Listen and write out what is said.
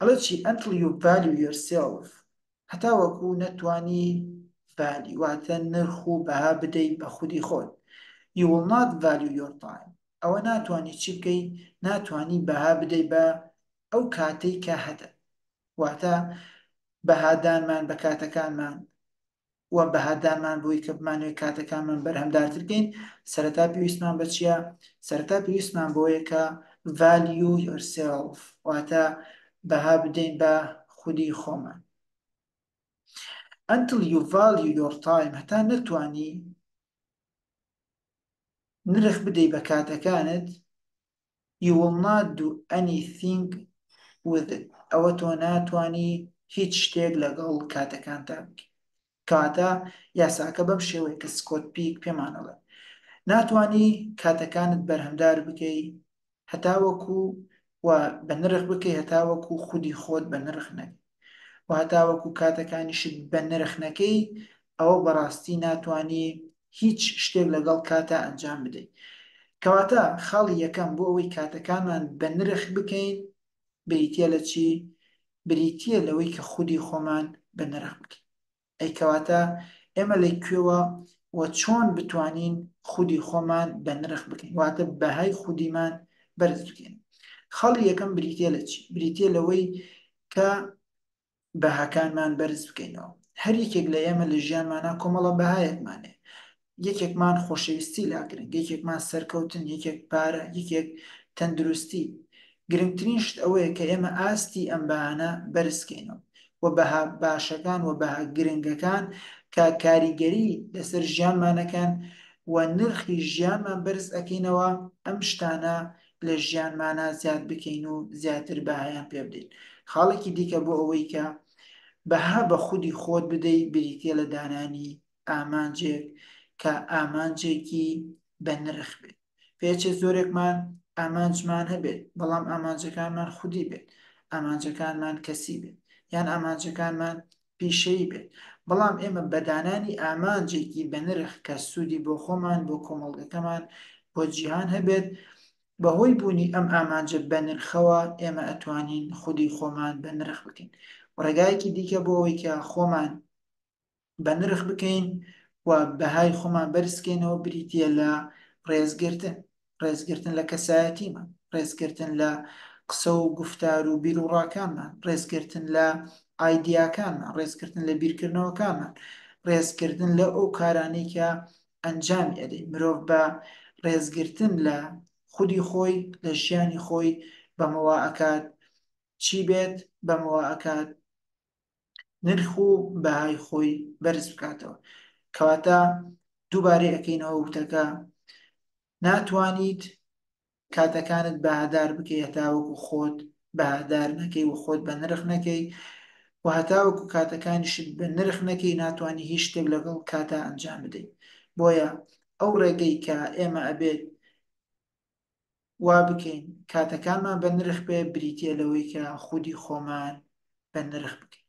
ئەڵێ چی Until you value yourself هەتاوەکو نەتوانی value واتە نرخ و بەها بدەی بە خودی خۆت You will not value your time ئەوە ناتوانی چی بکەی ناتوانی بەها بدەی بە ئەو کاتەی کە هەتە واتە بەهادانمان بە کاتەکانمان و بەهادارمان بۆی کە بمانەوێت کاتەکانمان بەرهەمدارتر بکەین سەرەتا پێویستمان بە چییە سەرەتا پێویستمان بۆیە کە value yourself واتە بەها بدەین بە خودی خۆمان until you value your time هەتا نەتوانی نرخ بدەی بە کاتەکانت You will not do anything with it ئەوە تۆ ناتوانی هیچ شتێک لەگەڵ کاتەکانتا بکەی کەواتە یاساکە بەم شێوەیە کە سکۆت پیک پێمانەڵێ ناتوانی کاتەکانت بەرهەمدار بکەی هەتاوەکو و بە نرخ بکەی هەتاوەکو خودی خۆت بە نرخ نەبی و هەتاوەکو کاتەکانیشت بە نرخ نەکەی ئەوە بەڕاستی ناتوانی هیچ شتێک لەگەڵ کاتا ئەنجام بدەی کەواتە خاڵی یەکەم بۆ ئەوەی کاتەکانمان بە نرخ بکەین بریتیە لە چی؟ بریتیە لەوەی کە خودی خۆمان بە نرخ بکەین. ئەی کەواتە ئێمە لە کوێوە و چۆن بتوانین خودی خۆمان بە نرخ بکەین واتە بەهای خودیمان بەرز بکەین خەڵی یەکەم بریتە لە چی بریتە لەوەی کە بەهاکانمان بەرز بکەینەوە هەر یەکێک لە ئێمە لە ژیانمانە کۆمەڵە بەهایەکمانێ یەکێکمان خۆشەویستی لا گرنگ یەکێکمان سەرکەوتن یەکێک پارە یەکێک تەندروستی گرنگترین شت ئەوەیە کە ئێمە ئاستی ئەم بەهانە بەرزکەینەوە و بەها باشەکان و بەها گرنگەکان کە کاریگەری لەسەر ژیانمانەکەن و نرخی ژیانمان بەرز ئەەکەینەوە ئەم شتانە لە ژیانمانە زیاد بکەین و زیاتر بەهایان پێ بدەین خاڵێکی دیکە بۆ ئەوەی کە بەها بە خودی خۆت بدەی بریتە لە دانانی ئامانجێک کە ئامانجێکی بە نرخ بێت پێچێ زۆرێکمان ئامانجمان هەبێت بەڵام ئامانجەکانمان خودی بێت ئامانجەکانمان کەسی بێت یان ئامانجەکانمان پیشەی بێت بەڵام ئێمە بەدانانی ئامانجێکی بە نرخ کە سوودی بۆ خۆمان بۆ کۆمەڵگەکەمان بۆ جیهان هەبێت بەهۆی بوونی ئەم ئامانجە بە نرخەوە ئێمە ئەتوانین خودی خۆمان بە نرخ بکەین ڕێگایەکی دیکە بۆ ئەوەی کە خۆمان بەنرخ بکەین و بەهای خۆمان بەرزکەینەوە بریتیە لە ڕێزگرتن ڕێزگرتن لە کەسایەتیمان ڕێزگرتن لە قسە و گفتار و بیر و ڕاکانمان ڕێزگرتن لە ئایدیاکانمان ڕێزگرتن لە بیرکردنەوەکانمان ڕێزکردن لە ئەو کارانەی کە ئەنجام ئەدەین مرۆڤ بە ڕێزگرتن لە خودی خۆی لە ژیانی خۆی بەمەوە ئەکات چی بێت بەمەوە ئەکات نرخ و بەهای خۆی بەرز بکاتەوە کەواتە دووبارەی ئەەکەینەوە وتەکە ناتوانیت کاتەکانت بەهادار بکەی هەتاوەکو خۆت بەهادار نەکەی و خۆت بە نرخ نەکەی و هەتاوەکو کاتەکانیشت بە نرخ نەکەی ناتوانانی هیچ شتێک لەگەڵ کاتا ئەنجام بدەیت بۆیە ئەو ڕێگەی کە ئێمە ئەبێت وا بکەین کاتەکانمان بە نرخ بێ بریتە لەوەی کە خودی خۆمان بە نرخ بکەین